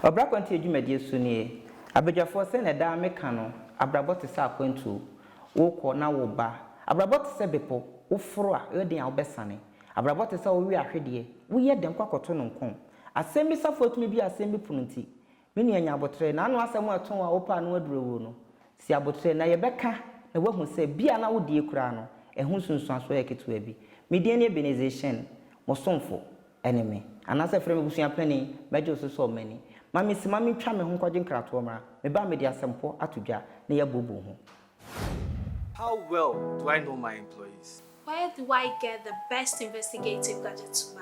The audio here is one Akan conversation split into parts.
Ɔbra akwantuo dwumadie so nie. Abadwafoɔ sɛ na daa me ka no, abrabɔ te sɛ akwantuo. Wo kɔ na wo ba. Abrabɔ te sɛ bepo, wo foro a, ɛyɛ den a wo bɛ sane. Abrabɔ te sɛ wo we ahwedeɛ, wo yɛ den kɔ akɔto no nkɔm. Asɛm bi safoa tumi bue asɛm bi pono nti, Me nua nya aboterɛ, na ano asɛm a ɛtõ a wopɛ a ano aduru awuo no, si aboterɛ, na yɛbɛka na woahu sɛ bi a na wodie koraa no, ɛho nsunsuansoɔ yɛ ketewa bi. Me din ne Ebenezer Shen, mo somfo. Ɛne me. Anaasɛ frɛ me abusua panin, mɛgye wo so sɛ ɔmani. Ma mensi ma mentwa me ho nkɔgye nkratoɔ mmra. Meba a mede asɛm pɔ ato dwa na yɛabuobuo ho. How well do I know my employees? Where do I get the best investigative gadgets to buy?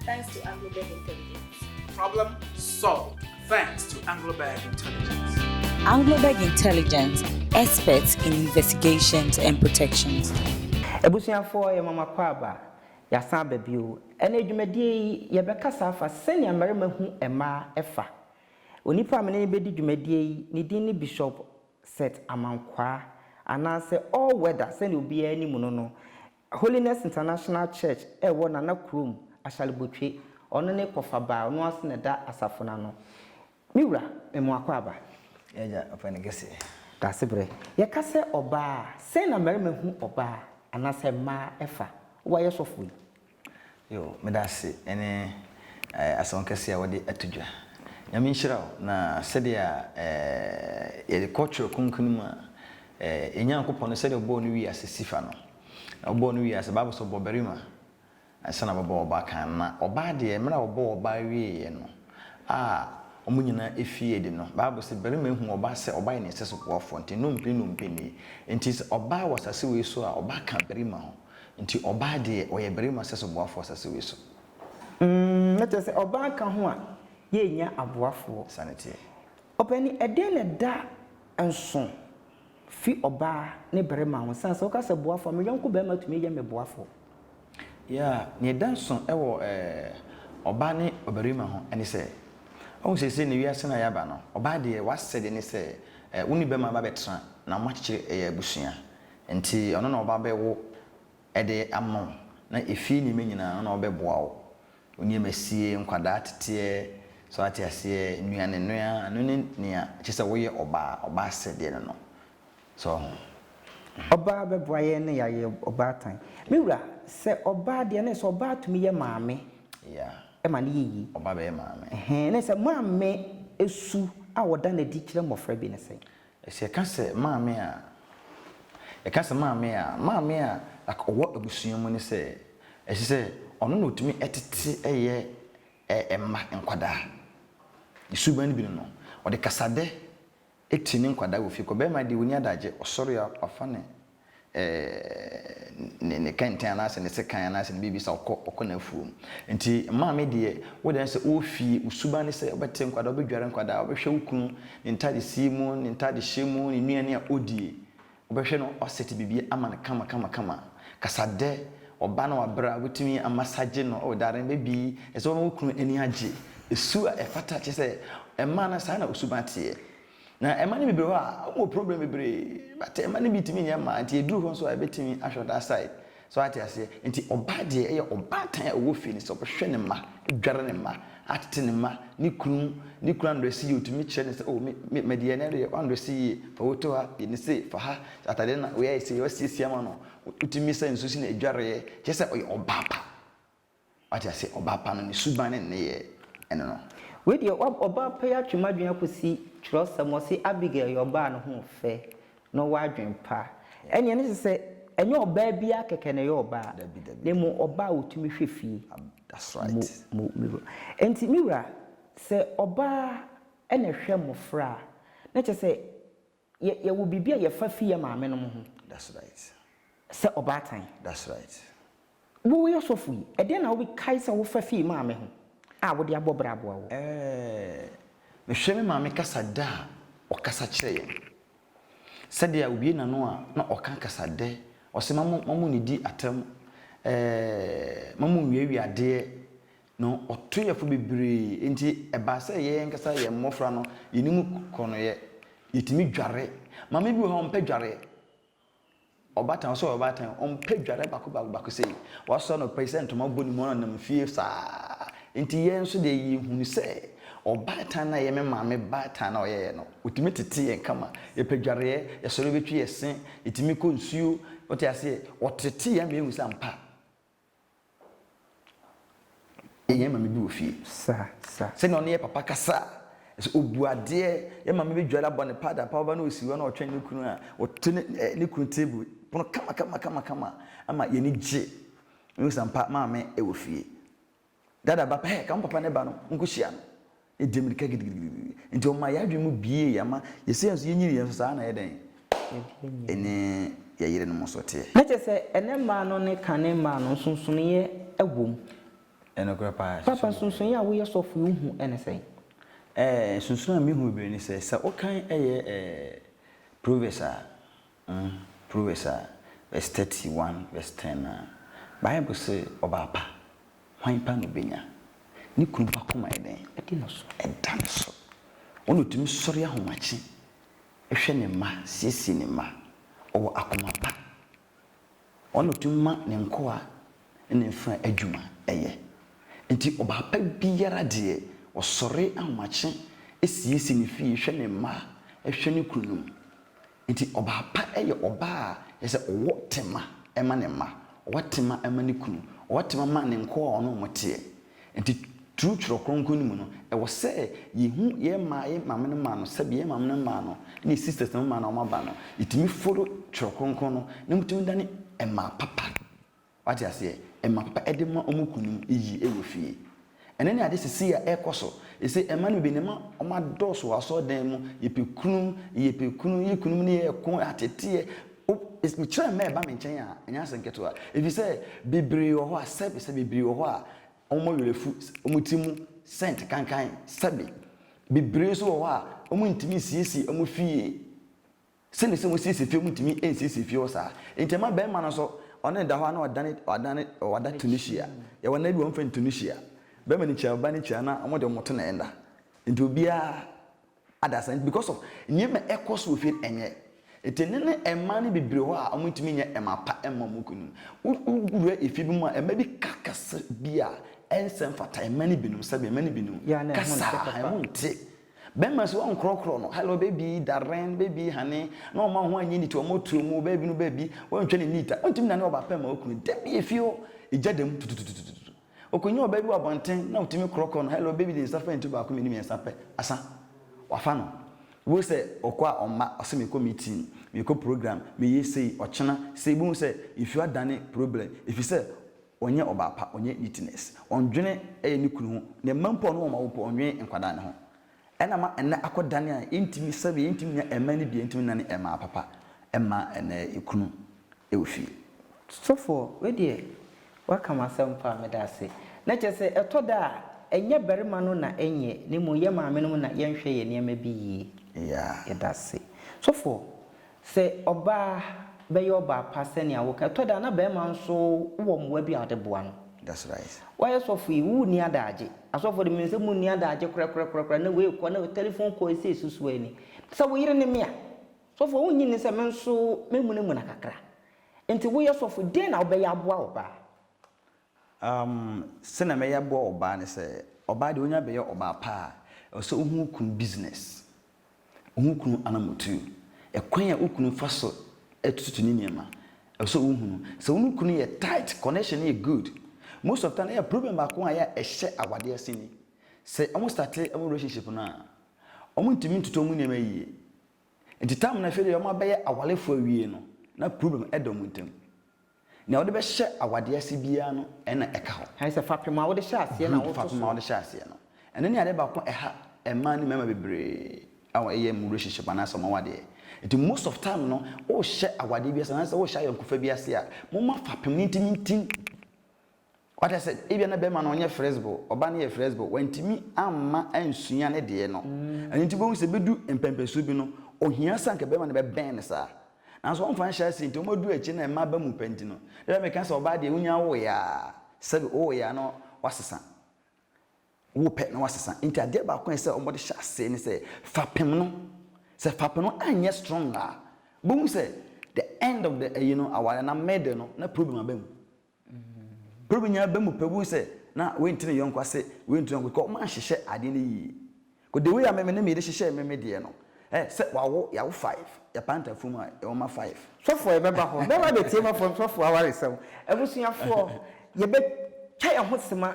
thanks to Anglobeg Intelligence. Problem solved thanks to Anglobeg Intelligence. Anglobeg Intelligence, experts in investigations and protections. Abusuafoɔ yɛ mama kɔ aba, yɛasan aba bio. Ɛnna dwumadie yi yɛbɛkasa afa sɛnea mmarima hu mmaa ɛfa. Onipa a me ne no bɛdi dwumadie yi ne din ne Bishop Seth Amankwaa anaasɛ All Weather sɛnea obiara nim no no. Holiness International Church a ɛwɔ Nana kurom, Ashalibotwe, ɔno ne Kɔfa Baa, ɔno ase na ɛda asafo no ano. Me wura, me mo akwaaba. Yɛagya ɔpɛ no kɛseɛ. Daasebrɛ. Yɛka sɛ ɔbaa a, sɛn na mmarima hu ɔbaa anaasɛ mmaa fa? Woayɛ sɔfo yi? Yow medase ɛne asɛm kɛse a wode ato dwa. Nyame nhyira wo na sɛdeɛ a yɛde kɔ twerɛ kronkron no mu a yɛn Nyankopɔn no sɛdeɛ ɔbɔɔ no wiase sifa no na ɔbɔɔ no wiase bible sɛ ɔbɔ barima ansa na wabɔ ɔbaa kan na ɔbaa deɛ mmerɛ a ɔbɔɔ ɔbaa wieɛ no a wɔn nyinaa ɛfie adi no bible sɛ barima huu ɔbaa sɛ ɔbaa yɛ ne sɛsoboafoɔ nti nnompe nnompe nie nti sɛ ɔbaa wɔ asase wei so a ɔbaa ka barima ho. Nti ɔbaa deɛ ɔyɛ barima sɛ soboafoɔ asase wei so. Umm na kyerɛ sɛ ɔbaa ka ho a yɛ nnya aboafoɔ. Saa ne teɛ. Ɔpani ɛdɛn na ɛda nso fi ɔbaa ne barima ho sane sɛ wo ka sɛ boafoɔ a me yɔnko barima tumi yɛ me boafoɔ. Yeah nea ɛda nso ɛwɔ ɛɛ ɔbaa ne ɔbarima ho ɛne sɛ wohu seesei ne wiase no a yɛaba no ɔbaa deɛ wasɛde ne sɛ ɛɛ wo ne barima bɛbɛtra na mo akyekyere ɛyɛ abusua Enti ɔno na ɔba bɛwo de ama wo, na efie nneɛma nyinaa ɔno na ɔbɛboa wo. Wo nneɛma sie, nkwadaa teteɛ, so ate aseɛ, nnuane noa, ɛno ne nea ɛkyerɛ sɛ woyɛ ɔbaa, ɔbaa asɛdeɛ no no. So woahu? Mhm. Ɔbaa bɛboa yɛn na yɛayɛ ɔbaatan. Me wura, sɛ ɔbaa deɛ, na ɛsɛ sɛ ɔbaa tumi yɛ maame Yeah. ma no yɛ yie. Ɔbaa bɛyɛ maame. Ɛhɛn, na ɛsɛ sɛ maame su a ɔda no adi kyerɛ mmɔfra bi ne sɛn? Sɛ yɛka sɛ maame a, yɛka sɛ maame a, maame a like ɔwɔ abusua mu ne sɛ ɛsɛ sɛ ɔno na ɔtumi tete yɛ mma nkwadaa. Ne suban no bi ne no, ɔde kasadɛ ti ne nkwadaa wɔ fie kɔ. Barima deɛ ɔnni adagye, ɔsɔre a wafa ne. ne ne kɛntɛn anaasɛ ne sekan anaasɛ ne biribi sa ɔkɔ ɔkɔ n'afuom nti maame deɛ wo deɛ sɛ ɔwɔ fie wo suban ne sɛ wobɛte nkwadaa wobɛdware nkwadaa wobɛhwɛ wo kunu ne ntade sie mu ne ntade hyɛ mu ne nnuane a ɔdie wobɛhwɛ no wasɛte biribi ama no kama kama kama kasadɛ ɔba na wabrɛ a wobɛtumi amasagye no oh dare baby ɛsɛ wo ne wo kunu ani agye su a ɛfata kyɛ sɛ ɛma no saa na wo suban teɛ. Na mma no bebree hɔ a wɔn wɔ problem bebree but mma no bi tumi nyɛ mmaa nti ɛduru hɔ nso a yɛbɛtumi ahwɛ that side so wate aseɛ nti ɔbaa deɛ ɛyɛ ɔbaatan a ɔwɔ fie no sɛ ɔbɛhwɛ ne mma adware ne mma atete ne mma ne kunu ne kunu andrɛse yie ɔtumi kyerɛ no sɛ oh me me mɛdeɛ na ɛdeɛ wandrɛse yie fa wo to ha yɛ ne sei fa ha atadeɛ na woyɛ sei wasiesie ama no wotumi sɛ nsuo si na adwareɛ kyerɛ sɛ ɔyɛ ɔbaa pa. Wate aseɛ? Ɔbaa pa no, ne suban ne ne nneyɛɛ, ɛno no. Wei deɛ, wab, ɔbaa pa yi atwe m'adwene akɔsi twerɛsɛm, ɔse Abigail yɛ ɔbaa a ne ho fɛ, na ɔwɔ adwene pa. Ɛnneɛ ɛno kyerɛ sɛ, ɛnyɛ ɔbaa biara kɛkɛ na ɛyɛ ɔbaa, Dabi, dabi, na mmom dabi. ɔbaa a ɔtumi hwɛ fie Ab, that's mu, right. mu, me wura. Enti, me wura, sɛ ɔbaa na ɛhwɛ mmɔfra a, na kyerɛ sɛ yɛ yɛwɔ biribi a yɛfa fi yɛ maamenom ho. That's right. Sɛ ɔbaatan. That's right. Wo wo yɛ sɔfo yi, ɛdeɛn na wobi kae sɛ wofa fi maame ho a wode abɔ bra aboa wo? Ɛɛ, me hwɛ me maame kasa dɛ a, ɔkasa kyerɛ yɛn. Sɛdeɛ a obue n'ano a na ɔka kasa dɛ, ɔse ma mo ma mo nnidi atɛm, ɛɛ, ma mo nwiawia adeɛ, No, ɔto yɛn fo bebree. Enti ɛbaa sɛ yɛn ankasa yɛn mmofra no, yɛne mu korɔnoeɛ. Yɛtumi dware. Maame bi wɔ hɔ a, ɔmpɛ dwareɛ. Ɔbaatan, ɔsɛ ɔyɛ ɔbaatan, ɔmpɛ dwareɛ baako baako baako sei. Wasɔre anɔpa yi sɛ ntoma bɔ ne mu, ɔnenam fie saa. Enti yɛn nso deɛ, yɛhunu sɛ ɔbaatan no a ɛyɛ me maame baatan no a ɔyɛeɛ no, ɔtumi tete yɛn kama. Yɛpɛ dwareɛ, yɛsɔre bɛtwi yɛn se, yɛtumi kɔ nsuo, wote aseɛ? Ɔtete yɛn ma yɛhu sɛ ampa. Yɛn maame bi wɔ fie. Sa, sa. Sɛnea ɔne yɛ papa kasa a, sɛ obu adeɛ, yɛn maame bɛdware abɔ ne pad apa hɔ ba na ɔsi hɔ na ɔtwɛn ne kunu a ɔte ne eh, ne kunu table pono kama kama kama kama ama yɛn ani gye. Mehu sɛ ampa maame wɔ fie. Dada ba pɛ, ka wo papa ne ba no nkɔhyia no. Yɛdii mmirika gidigidigidi. Nti ɔmaa yɛn adwene mu buee, yɛn ma yɛsɛ yɛn so, yɛnyini yɛn so, saa ara na yɛdɛn? Yɛne yɛn yerenom nso teɛ. Na kyerɛ sɛ, ɛnnɛ mmaa no ne kane mmaa no, nsonsonoeɛ wom. Nokorɛ paa, nsonsonoeɛ wom. Papa, nsonsonoeɛ a woyɛ sɔfo yi, wohu ne sɛn? Ɛɛ, nsonsonoeɛ a mehu bebree ne sɛ, sɛ wokan yɛ ɛɛ, Proverbs a. Hom Proverbs a, vs thirty one vs ten a, Bible se, Ɔbaa pa, hwan pa na obenya? Ne kunu pa koma yɛ dɛn? Ɔda no so. Ɔda no so. Wɔn na otumi sɔre ahomakye hwɛ ne mma, siesie ne mma. Ɔwɔ akoma pa. Wɔn na otumi ma ne nkoa ne ne mfenaa adwuma yɛ. Enti ɔbaa pa biara deɛ, ɔsɔre ahomakye siesie ne fie, hwɛ ne mma, hwɛ ne kununom. Enti ɔbaa pa yɛ ɔbaa a, kyerɛ sɛ ɔwɔ tema ma ne mma, ɔwɔ tema ma ne kunu, ɔwɔ tema ma ne nkoa a ɔne wɔn teɛ. Enti through Twerɛ Kronkron no mu no, ɛwɔ sɛ yɛhu yɛn mmaa, yɛn maame no mmaa no, sɛdeɛ yɛn maame no mmaa no ne yɛn sisters no mmaa no a wɔaba no, yɛtumi follow Twerɛ Kronkron no na wɔtumi dane mmaa papa. Wate aseɛ? Ɛma pa de ma wɔn kunu no yie wɔ fie. Ɛno ne ade sesei a ɛrekɔ so. Ɛsei mma no bi no ma wɔn adɔɔso wɔ asɔredan mu, yɛpɛ kunu, yɛpɛ kunu, yɛ kunu mu no yɛ ko, ateteɛ. O, mekyerɛ mma ɛba me nkyɛn a, ɛnyɛ asɛm ketewa. Ɛfiri sɛ, bebree wɔ hɔ a, sɛbe, sɛ bebree wɔ hɔ a, wɔn werɛ afu, wɔn ti mu sɛnt kankan, sɛbe. Bebree nso wɔ hɔ a, wɔntumi nsiesie wɔn fie. Sɛnea ɛsɛ sɛ wosiesie fie mu ntumi nsiesie fie hɔ saa. Enti ɛma barima no nso, ɔne no da hɔ a na ɔdane, ɔdane, ɔda Tunisia. Yɛwɔ nna bi a wɔmfa no Tunisia. Barima no kyia ɔbaa no kyia na wɔn deɛ wɔto nɛɛ nna. Enti obiara adasa nti because of nneɛma a ɛkɔ so wɔ fie no ɛnyɛ. Enti ɛnnɛ no mmaa no bebree wɔ hɔ a wɔntumi nyɛ mmaa pa mma wɔn kununom. Wo, wowura efie bi mu a mmaa bi ka kasa bi a ɛnsɛ mfata mmaa no binom sɛbe mmaa no binom kasa a, ɛho nte. Bɛma si wɔnkorɔkorɔ no, hello baby, darling, baby, honey, na wɔn a wɔn anyi nni to wɔn tuo mu, baby no baby, wɔntwa ne neat a, wɔntumi nane ɔbaa pɛ mma okunu, da bi efie hɔ, egya da mu, tutututututu. Okonyaa ɔbaa bi wɔ abɔnten na otumi korɔkorɔ no, hello baby, ne nsa fa ntu baako, mmienu, mmiɛnsa pɛ, asa. Wafa no. Bio sɛ, ɔkɔ a ɔmma, ɔse mekɔ meeting, mekɔ program, meyɛ sei, ɔkyena, sei, bohu sɛ, nsuo adane problem, efisɛ, Ɔnyɛ ɔbaa pa, ɔnyɛ neatness. Ɔndwene ɛyɛ ne kunu ho, ne mma mpo a ɔne wɔn awo mpo ɔnwene nkwadaa no ho. Ɛna ama ɛnɛ akɔ dane a yɛntumi sɛbi, yɛntumi nya ɛmma no bi, yɛntumi nna ne ɛmmaa papa mma ɛnɛ ɛkunu ɛwɔ fie. Sɔfoɔ wei deɛ waka m'asɛm paa medaase na kyerɛ sɛ ɛtɔ da a ɛnyɛ barima no na ɛnyɛ na mmom yɛ maame nom na yɛnhwɛ yɛ nneɛma bi yie yeah yɛdaase sɔfoɔ. Sɛ ɔbaa bɛyɛ ɔbaa pa sɛnea woka. Ɛtɔ da a na barima nso wɔ mmoa bi a ɔde boa no. That's right. Woayɛ sɔfo yi, wo nni adaagye. Asɔfo de, menim sɛ munni adaagye korakorakorakora, na wei kɔ, na wei, telephone call sei so so ani. Sɛ wo yere ne me a, sɔfo wonnye nni sɛ me nso memunamuna kakra? Enti woyɛ sɔfo, dɛn na wobɛyɛ aboa ɔbaa? Um, sɛnea mɛyɛ aboa ɔbaa ne sɛ, ɔbaa deɛ onya bɛyɛ ɔbaa pa a, ɛwɔ sɛ ohu wo kunu business, ohu wo kunu anamotuo, ɛkwan a wo kunu fa so tututu ne nneɛma, ɛwɔ sɛ ohu no. Sɛ wo ne wo kunu yɛ tight, connection no yɛ good, most of time ɛyɛ problem baako a ɛyɛ a ɛhyɛ awadeɛ ase ni, sɛ wɔn start wɔn relationship no a, wɔn ntumi ntutu wɔn nneɛma yie, nti time no afei deɛ wɔn abɛyɛ awarefoɔ awie no, na problem ɛda wɔn ntam. Nea wode bɛhyɛ awadeɛ ase biara no na ɛka hɔ. Ayɛ sɛ fapem a wode hyɛ aseɛ na woto so. Brud fapem a wode hyɛ aseɛ no. Ɛno ne adeɛ baako ɛha mmaa ne mmarima bebree a wɔyɛ wɔn relationship anaasɛ wɔn awadeɛ. Nti most of time no worehyɛ awadeɛ bi ase anaasɛ worehyɛ ayɔnkofa bi ase a, momma fapem no ntimintim. Wate ase? Ebia na barima no ɔnyɛ flexible, ɔbaa no yɛ flexible, wantumi amma ansua ne deɛ no. Ɛno nti wobɛhu sɛ ɛbɛdu mpɛnpɛnsoɔ bi no, ɔhia sɛ anka barima no bɛbɛn no saa. Nanso wɔmfa nhyɛ aseɛ nti, wɔadu akyire na mmaa aba mu pɛ nti no, ebia meka sɛ ɔbaa deɛ wonya woeɛ a, sɛbe wowoeɛ a na wasesa, wopɛ na wasesa. Nti adeɛ baako a ɛsɛ sɛ wɔde hyɛ aseɛ ne sɛ fapem no, sɛ fapem no anyɛ strong a, wobɛhu sɛ the end of the ayi no, aware no, middle no, na problem aba mu. Bere bi nyinaa ba mu pɛbun sɛ na wenti ne yɔnko ase, wenti ne yɔnko because wɔanhyehyɛ ade no yie. Because the way a me me ne me yere hyehyɛɛ me me deɛ no, eh, sɛ wawo, yɛawo five, yɛpaa ntafua mu a, yɛwɔ mma five. Sɔfoɔ, yɛbɛba hɔ. Bɛba abɛtie m'afɔremsɔfoɔ awaresɛm. Abusuafoɔ, yɛbɛtwa yɛn ho sema.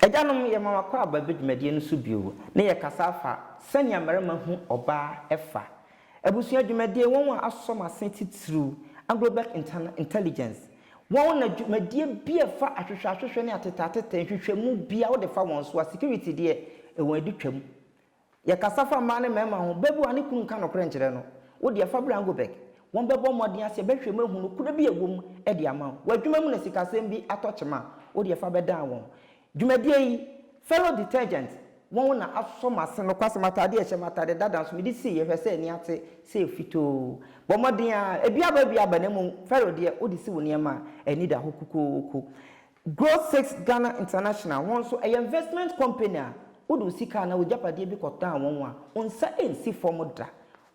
Agyanom, yɛma mo akwaaba bi dwumadie no so bio na yɛkasa afa sɛnea mmarima hu ɔbaa ɛfa abusua dwumadie wɔn a asɔ mo ase titiriw Anglo-Black Intelligence wɔn na dwumadie bi a ɛfa ahwehwɛ ahwehwɛ ne atetɛ atetɛ nhwehwɛmu bia wode fa wɔn so a security deɛ wɔn adi twam Yɛkasa fa mmaa ne mmarima ho, babu a ne kunu nka nokorɛ nkyerɛ no, wo deɛ fa bra Angoberg, wɔbɛbɔ mmɔden ase bɛhwɛ mu ahu nokorɛ bi a ɛwɔ mu de ama wo. W'adwuma mu na sikasɛm bi atɔ kyema a, wo deɛ fa bɛdan wɔn. Dwumadie yi, Fellow Detergent, wɔn na asɔ m'ase nokwasɛm atadeɛ a ɛhyɛ me atadeɛ dada nso mede siiɛ, hwɛ sɛ ani ate sɛ ɛfitoo. Bɔ mmɔden ara, ebi aba ebi aba na mmom Fellow deɛ wode si wo nneɛma a, ani da hɔ kokooko. Grow Six Ghana International, wɔn nso ɛyɛ investment company a wode wo sika anaa w'agyapadeɛ bi kɔtɔn wɔn a, wo nsa nsi fam da.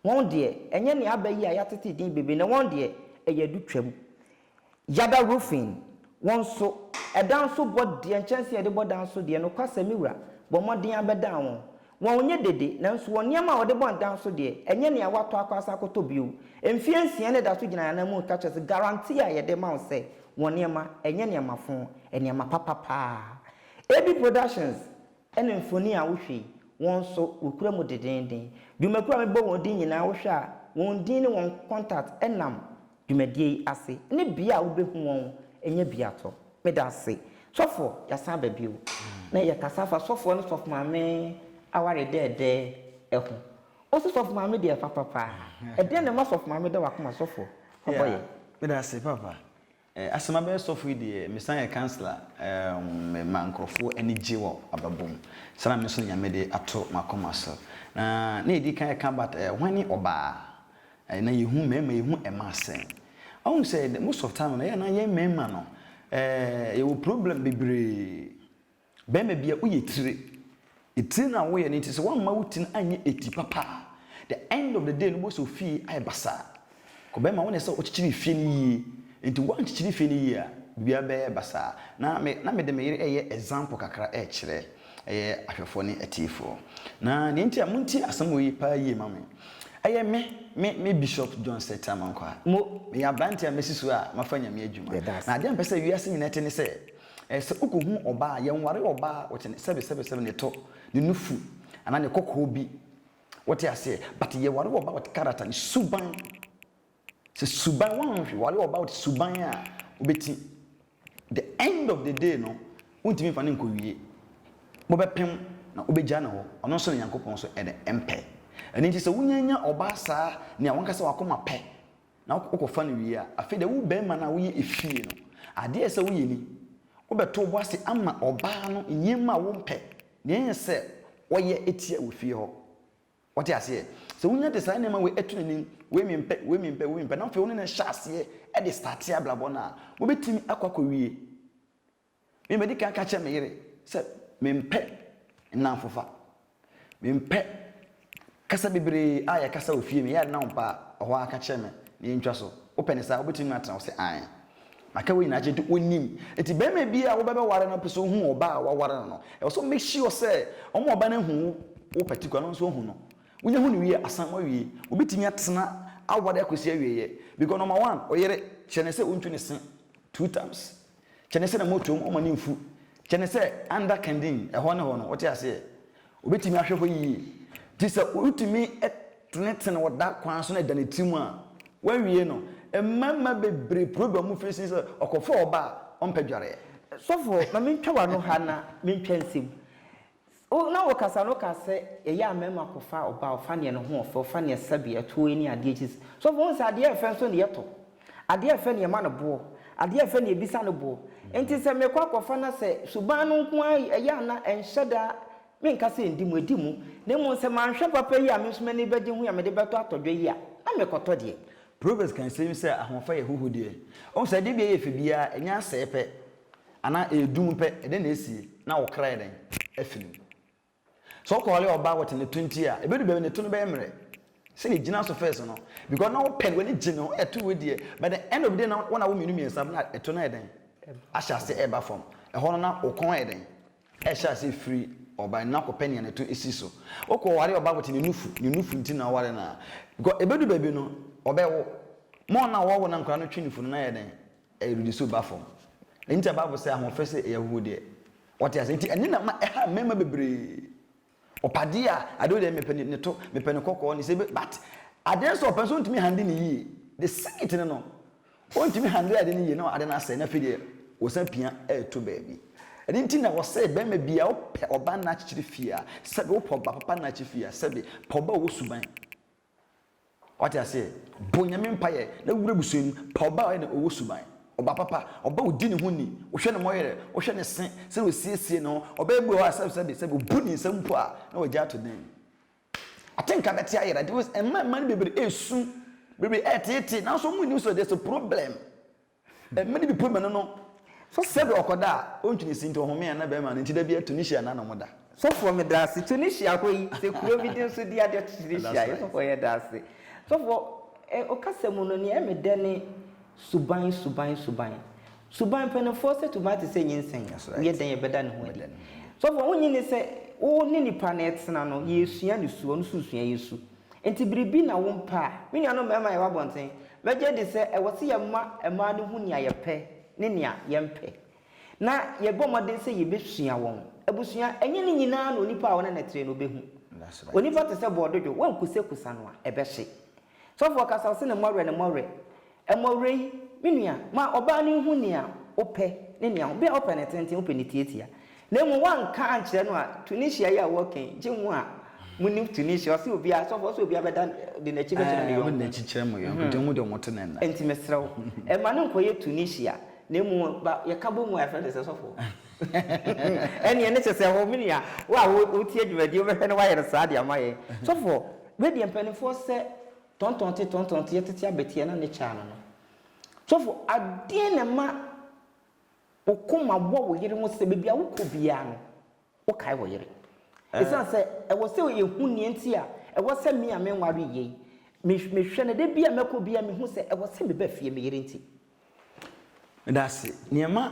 Wɔn deɛ, ɛnyɛ nea aba yi a yɛatete din bebree na wɔn deɛ, ɛyɛ adutwam. Yada Roofing, wɔn nso, ɛdan so bɔ deɛ, nkyɛnsee a yɛde bɔ dan so deɛ, nokwasɛm me wura, bɔ mmɔden ara bɛdan wɔn. Wɔnyɛ dede, nanso wɔn nneɛma a wɔde bɔ adan so deɛ, ɛnyɛ nea wɔatɔ akɔ asan akɔtɔ bio. Mfeɛ nsia na ɛda so gyina yɛn ananmu reka kyerɛ sɛ guarantee a yɛde ma wo sɛ wɔn nneɛma, ɛnyɛ nneɛma fõ, nneɛma papa paa. AB Productions ne mfoni a wohwɛ yi, wɔn nso, wɔkura mu dendeenden. Dwumakuo a mebɔ wɔn din nyinaa, wohwɛ a, wɔn din ne wɔn contact nam Dwumadie yi ase ne bia a wobɛhu wɔn nyɛ bia tɔ. Medase. Sɔfoɔ, yɛasan aba bio na yɛkasa afa sɔfoɔ ne sɔfo maame aware dɛɛdɛɛ ho. Wose sɔfo maame deɛ papa paa. Ɛdeɛn na ɛma sɔfo maame da wakoma sɔfoɔ? Ɔbɔ yɛn. Medase papa. Asɛ mabɛyɛ sɔfo yi deɛ mesan yɛ councilor me ma nkorɔfoɔ ani gye wɔ abrabɔ mu. Saa na me nso Nyame de ato makoma so. Na na yɛdikan ɛka but hwan ne ɔbaa? Ɛɛ na yɛhu mmarima yɛhu mmaa sɛn? Woahu sɛ the most of time no ɛyɛ a na yɛn mmarima no ɛɛ yɛwɔ problem bebree. Barima bi a woyɛ tire. Etire no a woyɛ no nti sɛ woamma wo ti no anyɛ eti papa a, the end of the day no wobɛhu sɛ wo fie ayɛ basaa. Kɔ barima wo na ɛsɛ sɛ wokyekyere fie no yie. Nti woankyekyere fie no yie a biribiara bɛyɛ basaa. Na me na mede me yere reyɛ example kakra rekyerɛ. Ɛyɛ ahwɛfoɔ ne atiefoɔ. Na deɛ nti a montie asɛm wei paa yie ma me. Ɛyɛ me, me, me Bishop John Ssettah Mankwah. Mo, meyɛ aberanteɛ a masi so a mafa Nyame adwuma. Yɛda ase. Na adeɛ a mpɛ sɛ wiase nyinaa te ne sɛ, ɛɛ, sɛ wokɔhu ɔbaa a, yɛnware ɔbaa a ɔkyɛ ne, sɛbe, sɛbe, sɛbe, ne tɔ, ne nufu, anaa ne kɔkɔɔ bi. Wote aseɛ? But yɛware ɔbaa a ɔte character, ne suban. Sɛ suban wɔn hwɛ wɔn all about suban a wobɛti the end of the day no wontumi nfa no nkɔ wie mobɛpem na wobɛgya no hɔ ɔno nso ne Nyankopɔn nso ɛdɛ mpɛ ɛno nti sɛ wonya nya ɔbaa saa nea wankasa wakoma pɛ na wokɔ fa no wie a afei deɛ wo barima no a woyɛ efie no adeɛ ɛsɛ woyɛ ni wobɛto wobo ase ama ɔbaa no nneɛma a wompɛ nea ɛyɛ sɛ ɔyɛ tia wɔ fie hɔ. Wote aseɛ? Sɛ wonya de saa nneɛma wei to n'anim, wei mempɛ, wei mempɛ, wei mempɛ, na afei wo ne no hyɛ aseɛ de starte abrabɔ no a, mobɛtumi akɔ akɔwie. Me madi kan ka kyerɛ me yere sɛ mempɛ nnamfofa. Mempɛ kasa bebree a yɛkasa wɔ fie no, ɛyɛ a na ɔmpɛ a, ɔhɔ ara ka kyerɛ me na yɛntwa so. Wopɛ no saa a, wobɛtumi atena? Ɔse, Aane. Maka wei nyinaa kyerɛ nti onim. Nti bɛrima bi a wobɛbɛ ware no pɛ sɛ ohu ɔbaa a waware no no. Ɛwɔ sɛ make sure sɛ ɔma ɔbaa no ahu wo wo particular no nso ahu no. Wonya hu no wie a asan mo awie. Wobɛtumi atena aware akɔsi awieɛ. Because number one ɔyere kyerɛ no sɛ wontu ne se two times. Kyerɛ no sɛ na motom ɔma no mfu. Kyerɛ no sɛ under kindin ɛhɔ ne hɔ no wote aseɛ. Obetumi ahwɛ hɔ yiye. Enti sɛ wutumi tenetene wɔ da kwan so na ɛda ne tirim a, woawie no. Mmarima bebree pirepirew wɔn mfiri sen sɛ ɔkɔfaa ɔba a ɔmpɛ dwareɛ. Sɔfo, ma mintwa w'ano ha na mintwa nsam. Wo na wokasa no kaa sɛ ɛyɛ a mmarima kɔfa ɔba a ɔfa nea ne ho ɔfɛ, ɔfa nea ɛsɛ sɛ bea, ɛtoɔ, ne adeɛ akyi. Sɔfo, wohu sɛ adeɛ a ɛfɛ nso ne yɛtɔ. Adeɛ a ɛfɛ na yɛma no boɔ, adeɛ a ɛfɛ na yɛbisa no boɔ. Enti sɛ mekɔ akɔfa na sɛ suban no nko ara ɛyɛ a na ɛnhyɛ da a, menka sɛ ɛndi mu, ɛdi mu. Na mmom sɛ manhwɛ papa yi a me nso m'ani bɛgye ho yi a mede bɛtɔ atɔdwa yi a, na mekɔtɔ deɛ. Proverbs ka nsɛm yi sɛ, Ahoɔfɛ yɛ ahuhudeɛ. Woahu sɛ adeɛ biara a ɛyɛ fɛ biara, ɛnyɛ asɛe pɛ anaa ɛredum pɛ, ɛdɛn na ɛsie? Na wo kra yɛ dɛn? Afiri mu. Sɛ ɔkɔɔle ɔbaa wɔ te ne to nti a ebedu baabi ne to no bɛyɛ mmerɛ sɛ deɛ egyina so first no because na wopɛ no w'ani gye ne ho ɛto wei deɛ but the end of the day na wɔn a wɔn mmienu mmiɛnsa na ɛto no ayɛ dɛn ahyɛ ase ɛreba fam ɛhɔ no na wo kɔn ayɛ dɛn ɛhyɛ ase firi ɔbaa no na kɔpɛ nea ne to esi so wokɔ ware ɔbaa wɔ te ne nufu ne nufu nti na ɔware no a because ebedu baabi no ɔbɛwo ma wɔn a wɔwɔ na nkwadaa no twe nufu no na ayɛ dɛn Ɛyɛ biribi so ba fam. Ɛno nti na Bible sɛ ahoɔfɛ sɛ ɛyɛ ahuhudeɛ. Wate aseɛ? Nti ɛno na ɛma ɛha mmarima bebree. Ɔpɛ adeɛ a, adeɛ wei deɛ mepɛ ne to, mepɛ ne kɔkɔɔ, ne sɛ but adeɛ no sɛ ɔpɛ no so ɔntumi handle no yie. The secret no no, ɔntumi handle adeɛ no yie na adeɛ no asɛe na afei deɛ ɔsan pia ɛreto baabi. Ɛno nti na wɔsɛ barima biara wopɛ ɔba nna akyekyere fie a, sɛbe wopɛ ɔba papa nna akyekyere fie a, sɛbe pɛ ɔba a ɔwɔ suban. Wate aseɛ? Bɔ Nyame mpaeɛ na wura abusua mu. Pa ɔba a ɔyɛ dɛ, ɔwɔ suban. Ɔba papa. Ɔba a ɔdi ne ho ni. Wohwɛ ne mmɔyɛrɛ, wohwɛ ne se, sɛdeɛ ɔsiesie ne ho. Ɔbaa bi wɔ hɔ a, sɛbi sɛbi sɛbi, ɔbu ne nsam mpo a, na wagya ato dan mu. Atenka bɛte ayera. Ɛma mma no bebree ɛresu. Bebree ɛreteetee, nanso wɔnni sɛ there's a problem. Mmere bi Pomenu no so sɛbi ɔkɔda a ontwi ne sintɔ ɔhome a na bɛma no nti da biara Tunisia na nom da. Sɔfoɔ medaase Tunisia hɔ yi sɛ kuro bi din so di adeɛ to Tunisia yɛ sɔfoɔ yɛdaase sɔfoɔ eh okasa mu no neɛ ɛme dɛ ne suban suban suban suban mpaninfoɔ sɛ tuban te sɛ nyinsɛn woyɛ dɛn yɛbɛda ne ho adi sɔfoɔ wonye ne sɛ wo ne nipa no ɛtena no yɛsua ne su ɔno nso sua yɛ su. Enti biribi na wompɛ a, me nuanom mmarima a yɛwɔ abɔnten, mɛgye adi sɛ ɛwɔ sɛ yɛma mmaa no hu nea yɛpɛ ne nea yɛmpɛ, na yɛbɔ mmɔden sɛ yebesua wɔn. Abusua, ɛnyɛ ne nyinaa na onipa a wo ne no te no behu. Onipa te sɛ bɔɔdodwo, woankusakusa no a, ɛbɛhye. Sɔfo ɔkasa, ɔse ne mmɔwerɛ, ne mmɔwerɛ. Mmɔwerɛ yi, me nua, ma ɔbaa no nhu nea wopɛ ne nea wopɛ. Bere a wopɛ no tenten, wopɛ no tiatia. Na mmom woanka ankyerɛ no a, Tunisia yi a wɔka yi, gye mo a munim Tunisia, ɔse obiara, sɔfo, ɔse obiara bɛda de n'akyi bɛkyerɛ ne yɔnko. Ɔde n'akyi kyerɛ mo yɔnko, dan mu deɛ wɔte no ɛnnɛ. Enti mesrɛ wo, mma no nkɔyɛ Tunisia, na mmom ba, yɛka bɔ mu a, yɛfrɛ no sɛ sɔfo. Ɛnneɛ ɛno kyerɛ sɛ wo, me nua, wo a wotie dwumadie yi, wobɛhwɛ na woayɛ no saa de ama yɛn. Sɔfo, wei deɛ mpanimfoɔ sɛ Tɔntɔnte tɔntɔnte yɛ tete abɛteɛ na ne kyɛ ano no. Sɔfo adeɛn na ɛma wo koma bɔ wo yere ho sɛ baabi a wokɔ biara no wokae wo yere? Ɛsiane sɛ ɛwɔ sɛ yɛhu nea nti a ɛwɔ sɛ me a menwaree yi, mehwɛ no da bi a mɛkɔ biara mehu sɛ ɛwɔ sɛ meba fie me yere nti. Medase neɛ ɛma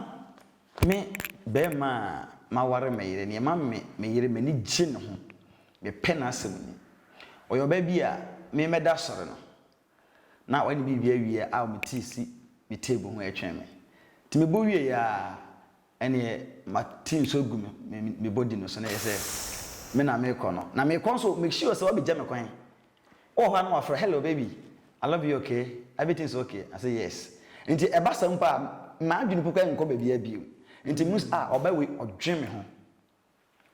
me bɛɛma a maware me yere neɛ ɛma me me yere m'ani gye ne ho me pɛ n'asɛm ni ɔyɛ ɔbaa bi a me mɛ da sɔre no na wayɛ ne biribi awie a ɔmete si me table ho ɛtwɛn me nti me bɔ wie aa Ɛneɛ ma team so gu me me body no so na ɛyɛ sɛ me na mekɔ no na mekɔ nso make sure sɛ wabɛgya me kwan wowɔ hɔ a na wafrɛ hello baby I love you okay everything is okay I say yes nti ɛba saa mpo a m'adwene mpo koraa nkɔ baabiara bio nti mus ah ɔbaa wei ɔdwen me ho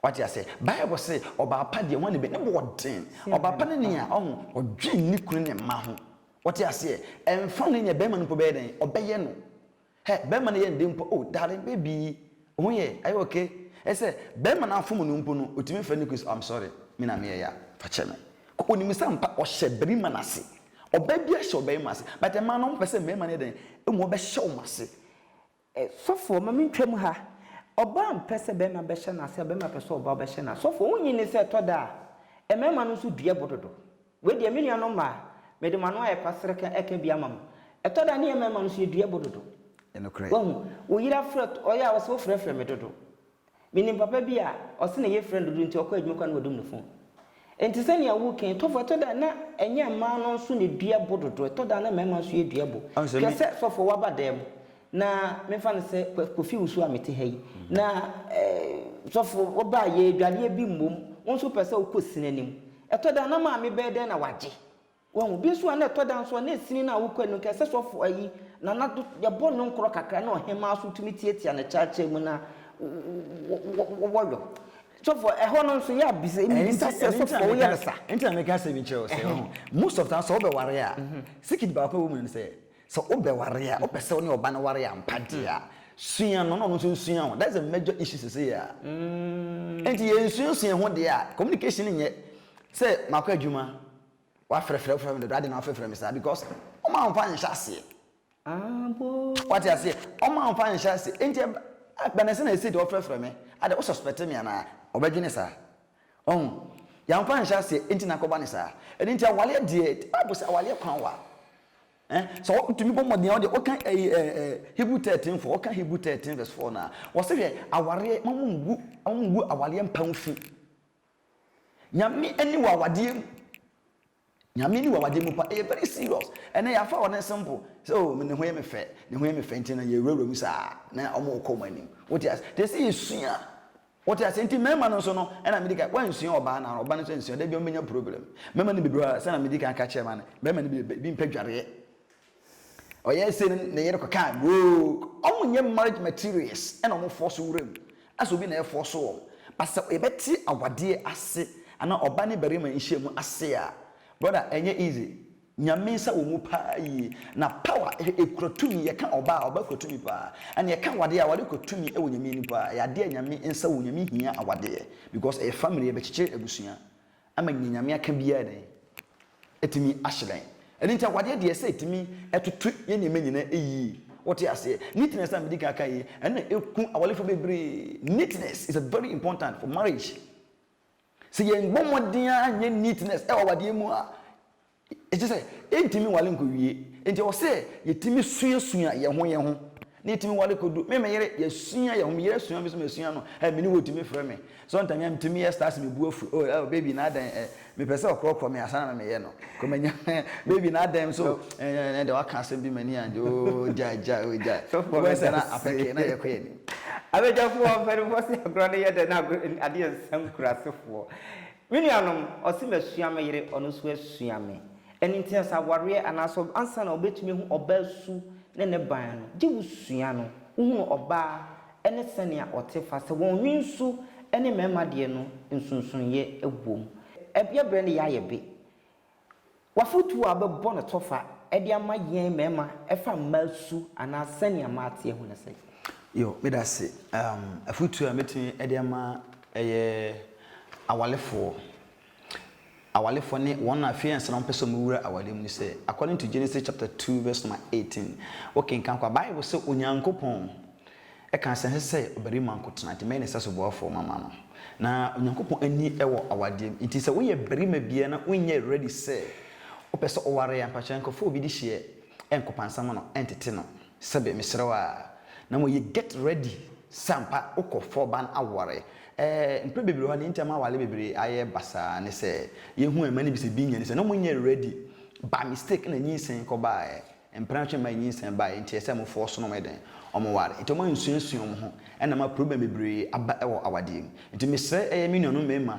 Wate aseɛ? Bible se, ɔbaa pa deɛ, hwan na ɛbɛ? Ne bo ɔden. Ɔbaa pa ne nea, ɔho, ɔdwen ne kunu ne mma ho. Wate aseɛ? Ɛmfa ne nea bɛrima no mpo bɛyɛ dɛn, ɔbɛyɛ no. Hɛ, bɛrima no yɛ ne dɛ mpo, oh, darling, baby, wo ho yɛ, are you okay? Ɛyɛ sɛ, bɛrima no afom no mpo no, ɔtumi frɛ ne kunu sɛ, oh, I'm sorry, me na meyɛ ya, fa kyɛ me. Kɔ, ɔnim sɛ ampa, ɔhyɛ barima no ase. Ɔbaa biara hyɛ ɔbarima ase. But mmaa no, wɔpɛ sɛ mmarima no yɛ dɛn? Ɛmu ɔbɛhyɛ wɔn ase. Eh, sɔfoɔ, ma mentwam ha. Ɔbaa mpɛ sɛ bɛrima bɛhyɛ no ase a, bɛrima pɛ sɛ ɔbaa bɛhyɛ no ase. Sɔfoɔ, wonnye nni sɛ ɛtɔ da a, mmarima no nso dua bo dodo? Wei deɛ, me nuanom mmaa, mede mo ano ayɛ kwaserekɛ reka bi ama mo. Ɛtɔ da a, ne yɛn mmarima no nso, yɛdua bo dodo. Ɛyɛ nokorɛ. Woahu, wo yere afrɛ, ɔyɛ a, ɔse, Wofrɛfrɛ me dodo. Minim papa bi a ɔse ne yefrɛ no dodo nti ɔkɔ adwuma koraa na wadum ne fon. Nti sɛnea wo kee tɔfo ɛtɔ da na ɛnyɛ mmaa no nso na edua bo dodo ɛtɔ da na mmarima nso yɛ dua bo. Hwɛ sɛ sɔfo waba dan mu na menfa no sɛ kofi wusu a mete ha yi na sɔfo wobaa yɛ adwareɛ bi mmom wo nso wopɛ sɛ wokɔ sini anim ɛtɔ da na maame bɛyɛ dɛn na wagye Wahu? Bi nso a na ɛtɔ da nso a na esini no a wokura no, nka ɛsɛ sɛ ɔfo ayi, na na yɛbɔ no nkorɔ kakra na ɔhemaa nso tumi tiatia no kyaakyaa mu na wɔyɔ. Sɔfo, ɛhɔ no nso yɛ a bisa bisa sɛ sɔfo woyɛ no sa? Ɛnti na meka asɛm bi nkyerɛ wo sɛ, wahu, most of time sɛ wobɛware a, secret baako a ɛwɔ mu no ne sɛ, sɛ wobɛware a, wopɛ sɛ wo ne ɔba no ware ampa deɛ a, sua no na ɔno nso nsua wo. That's the major issue seesei a. Ɛnti yɛnsuasua ho deɛ a, communication nyɛ sɛ makɔ adwuma, Wafrɛfrɛ wofrɛ me dodo adɛn na wafrɛfrɛ me saa because ɔma wo fa nhyɛ aseɛ wate aseɛ ɔma wo fa nhyɛ aseɛ enti bɛnɛ sɛ na ɛsɛ de ɔfrɛfrɛ me adɛ wo suspect me anaa ɔbɛdwene saa ɔho yɛmfa nhyɛ aseɛ enti na akɔba ne saa ɛno nti awaleɛ deɛ bible sɛ awaleɛ kwan wa eh, sɛ wotumi bɔ mmɔden a wode woka eh, eh, hebrew 13 fo woka hebrew 13 verse 4 no a wɔse hwɛ awareɛ ma mu ngu awaleɛ mpa wo fi Nyame ɛni wɔ awadeɛ mu Nyame ɛni wɔ awadeɛ mu pa ɛyɛ very serious ɛnɛ yɛafa wɔ ne simple sɛ o oh, ne ho yɛ me fɛ ne ho yɛ me fɛ nti na yɛwurawura mu saa na ɔmo kɔ ɔmo anim wote ase te sɛ yɛsua wote ase nti mmarima no nso no ɛna medi ka wansua ɔbaa no ɔbaa no nso ansua da bi ɔmo bɛnya problem mmarima no bebree sɛ na medi ka aka kyerɛ ma no bɛrima no bi bi mpɛ dwareɛ Ɔyɛɛ sei no ne yere kɔkaa goog ɔmo nyɛ marriage materials ɛna ɔmo fɔɔ so wuram asɛ obi na ɛfɔɔ so wɔn but sɛ yɛbɛte awadeɛ ase anaa ɔba ne barima nhyiamu ase a brother ɛnyɛ easy Nyame nsa wɔ mu paa yie na power hwɛ ekura tumi yɛka ɔba a ɔba kura tumi paa ɛna yɛka awadeɛ a awadeɛ kura tumi ɛwɔ Nyame anim paa ɛyɛ adeɛ a Nyame nsa wɔ mu Nyame hia awadeɛ because ɛyɛ family ɛbɛkyekyere abusua ama nea Nyame aka biara dɛn? Atumi ahyerɛn. Ɛno nti awadeɛ deɛ sɛ ɛtumi ɛtoto yɛ nneɛma nyinaa ɛyie. Wote aseɛ? Neatness a medi kan ka yi, ɛno na ɛku awarefoɔ bebree. Neatness is a very important for marriage. Sɛ yɛn bɔ mmɔden ara nyɛ neatness ɛwɔ awadeɛ mu a, Ɛkyerɛ sɛ, yɛntumi nware nkɔwie. Enti ɛwɔ sɛ yɛtumi suasua yɛn ho yɛn ho, na yɛtumi ware kɔdu. Me ne me yere, yɛasua yɛn ho. Me yere asua me nso masua no. Ɛ, me ne wo tumi frɛ me. Sometimes a, metumi yɛ stars, me bo afu. Oh, oh, baby, na adɛn? Ɛ, mepɛ sɛ ɔkorɔkorɔ me ansa na meyɛ no. Kɔ manya, baby, na adɛn nso? Ɛ, ɛ, ɛnɛ deɛ woaka asɛm bi ma m'ani angye. Oh, gyae, gyae, oh, gyae. Sɔfoɔ Wobɛhu sɛ na apɛ kee, na yɛkɔ yɛn anim. Abadwafoɔ, mpanimfoɔ se agorɔ no yɛ dɛ na adeɛ nsa nkurasefoɔ. Me nuanom, ɔse masua me yere, ɔno nso asua me. Ɛno nti ansa awareɛ anaasɛ ansa na wobɛtumi ahu ɔbaa su ne ne ban no, gye wo sua no, wohunu ɔbaa ne sɛnea ɔte fa sɛ wɔn nwensu ne mmarima deɛ no nsonsonoeɛ wɔ mu. Yɛbrɛ ne yɛ ayɛ be. W'afotuo a wobɛbɔ no tɔfa de ama yɛn mmarima ɛfa mmaa su anaa sɛnea mmaa teɛ ho ne sɛn? Yo, meda ase. Um, afotuo a mɛtumi de ama ɛyɛ awalefoɔ. Awalefoɔ ne wɔn a afei ansa na wɔpɛ sɛ wɔwura awale mu no sɛ, according to Genesis chapter 2 verse number 18, wokenkan kɔ a, Bible sɛ Onyankopɔn Ɛkaa sɛ ɛnsɛ sɛ ɔbarima nko tena, enti mɛyɛ ne sɛsoboafoɔ mama no. Na Onyankopɔn ani wɔ awadeɛ mu, enti sɛ woyɛ barima biara na wonyɛ ready sɛ wopɛ sɛ woware a, mpakyɛw nkɔfa obi de hyeɛ nkɔpansa ma no ntete no, sɛbe, mesrɛ wo ara, na mmom yɛ get ready sɛ ampa wokɔ fa ɔba no aware. Ɛɛ, mprɛ bebree wɔ hɔ a, nea enti a ɛma aware bebree ayɛ basaa ne sɛ, yɛhu a mmaa no bi sɛ bi nnya ni sɛ na wɔnyɛ ready, by mistake na nyinsɛn kɔbaeɛ. Mpena hwɛ mma enyinsɛn bae, ntsi ɛsɛ mbofo ɔsono wɔn dɛn? Wɔn war, ntsi wɔn ansuasua wɔn ho, na ama problem beberee aba wɔ awadeɛ mu. Ntsi mesrɛ ɛyɛ me nuanom mmarima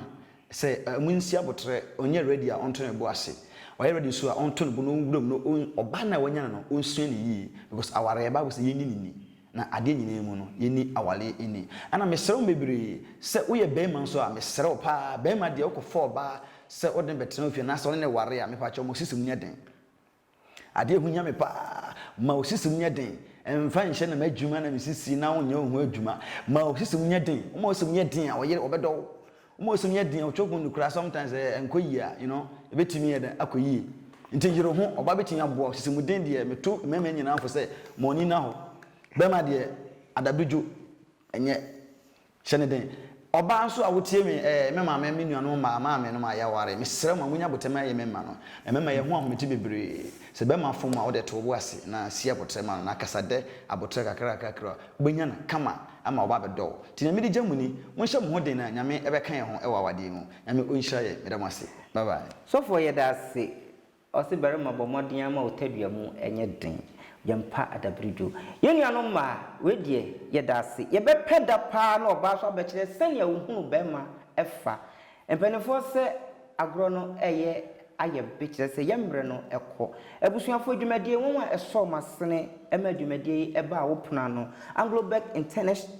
sɛ wɔn nsi aboterɛ, ɔnyɛ ready a ɔnto ne bo ase, ɔyɛ ready nso a ɔnto ne bo na ɔnwura mu na ɔn ɔbaa no a wanya no no ɔnsua no yie because awareɛ bible sɛ yɛnni no nni, na adeɛ nyinaa mu no yɛnni awareɛ nni. Ɛna mesrɛ wɔn beberee sɛ woyɛ barima nso a mesrɛ wo paa barima deɛ wokɔ fa ɔbaa sɛ wode no bɛtena wo fie anaasɛ wone no ware a mepa kyɛw ma wo sisi mu nyɛ den, Ade a ɛho hia me paa, Ma wo sisim nyɛ den. Mfa nhyɛ na m'adwuma na me sisi na wonyɛ wo ho adwuma. Ma wo sisim nyɛ den. Woma wo sisim yɛ den a, ɔyere, ɔbɛdɔ wo. Woma wo sisim yɛ den a, ɔtwe wo ho no koraa sometimes sɛ ɛnkɔ yie a, you know, ɛbɛtumi ayɛ dɛn akɔ yie. Nti yere wo ho. Ɔbaa bɛtumi aboa wo. Sisim den deɛ, meto mmarima nyinaa fo sɛ ma wɔn ani nna hɔ. Barima deɛ, adabedwo, ɛnyɛ. Hyɛ no den. Ɔbaa nso a wotie me, ɛɛ, me maame, me nuanom mmaa, maamenom a yɛaware, mesrɛ mo, monyɛ abotɛm ayɛ me mma no, na mɛma yɛahu ahomete bebree. Sɛ bɛrima fom a, wode to wo bo ase na si aboterɛ ma no, na kasa dɛ aboterɛ kakrakakra a, wobɛnya no kama ama waba abɛdɔ wo. Nti nea mede gya mu ni, monhyɛ mo ho den na Nyame bɛka yɛn ho wɔ awadeɛ mu. Nyame ɔnhyira yɛn. Meda mo ase. Bye bye. Sɔfoɔ yɛda ase Ɔse barima bɔ mmɔden ara ma wo tadua mu nyɛ den. Yɛmpa adabrudwo. Yɛn nuanom mmaa, wei deɛ yɛda ase. Yɛbɛpɛ da paa na ɔbaa nso abɛkyerɛ sɛnea ɔhunu barima fa. Mpanimfoɔ sɛ agorɔ no reyɛ ayɛ be kyerɛ sɛ yɛn mmerɛ no kɔ. Abusuafoɔ dwumadie nwanwa a ɛsɔɔ m'asene maa dwumadie yi baa wo pono ano, Anglo-Beck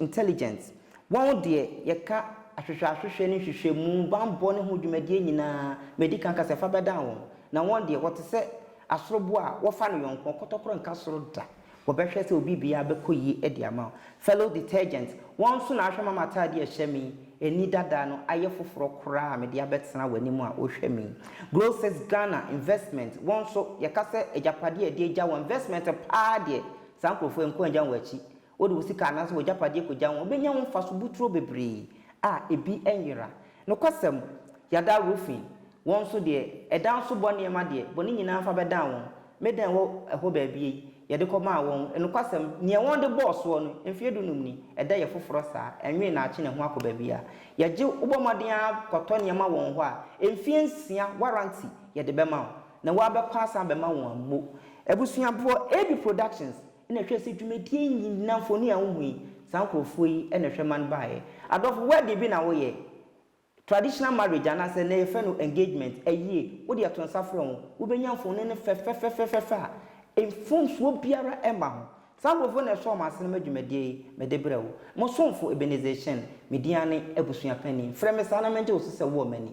Intelligent Wɔn deɛ, yɛka ahwehwɛahwehwɛ ne nhwehwɛmu, banbɔ ne ho dwumadie nyinaa, madi kan aka sɛ, fa bɛdan wɔn. Na wɔn deɛ, wɔte sɛ asoroboa a wɔfa no yɔnko, ɔkɔtɔkorɔ nka soro da, wɔbɛhwɛ sɛ obibiaa bɛkɔ yie de ama wo. Fellow detergent, wɔn nso na ahwɛ ma m'ataadeɛ a ɛhyɛ me ani dada no ayɛ foforɔ koraa a mede abɛtena w'anim a wohwɛ me yi. Grocers Ghana, investment, wɔn nso, yɛka sɛ agyapadeɛ a ɛde agya wɔn, investment paa deɛ, saa nkorɔfoɔ yi nko agya wɔn akyi, Wode wo sika anaasɛ w'agyapadeɛ kɔgya ho a, wobɛnya ho mfaso boturo bebree a ebi nyera. Nokwasɛm, Yada Roofing, wɔn nso deɛ, ɛdan so bɔ nneɛma deɛ, bɔne nyinaa fa bɛdan wɔn. Me dan wɔ ɛhɔ baabi ei, yɛde kɔmaa wɔn. Nokwasɛm, nea wɔde bɔɔ soɔ no, mfeɛ dunum ni, ɛda yɛ foforɔ saa, ɛnwene na akye ne ho akɔ baabiara. Yɛgye wo, wobɔ mmɔden ara kɔtɔ nneɛma wɔn hɔ a, mfeɛ nsia warranty yɛde bɛma wo, na woabɛkɔ asan abɛma wɔn ammo. Abusuaboɔ, AB Productions, Na hwɛ, sɛ dwumadie nyinaa, mfoni a wohu yi, saa nkurɔfoɔ yi na ɛhwɛ ma no baeɛ. Adɔfo, wedding bi na woyɛ, traditional marriage anaasɛ nnɛ yɛfrɛ no engagement, ayie, wode ato nsa frɛ ho, wobɛnya mfoni no fɛfɛfɛfɛfɛ a mfomsoɔ biara mma ho. Saa nkurɔfoɔ na ɛsɔɔ m'asene ma dwumadie yi, mede brɛ wo. Mo somfo Ebenezer Achieng, me din ara ne Abusua Panin. Frɛ me saa na mɛgye wo so sɛ wowɔ m'ani.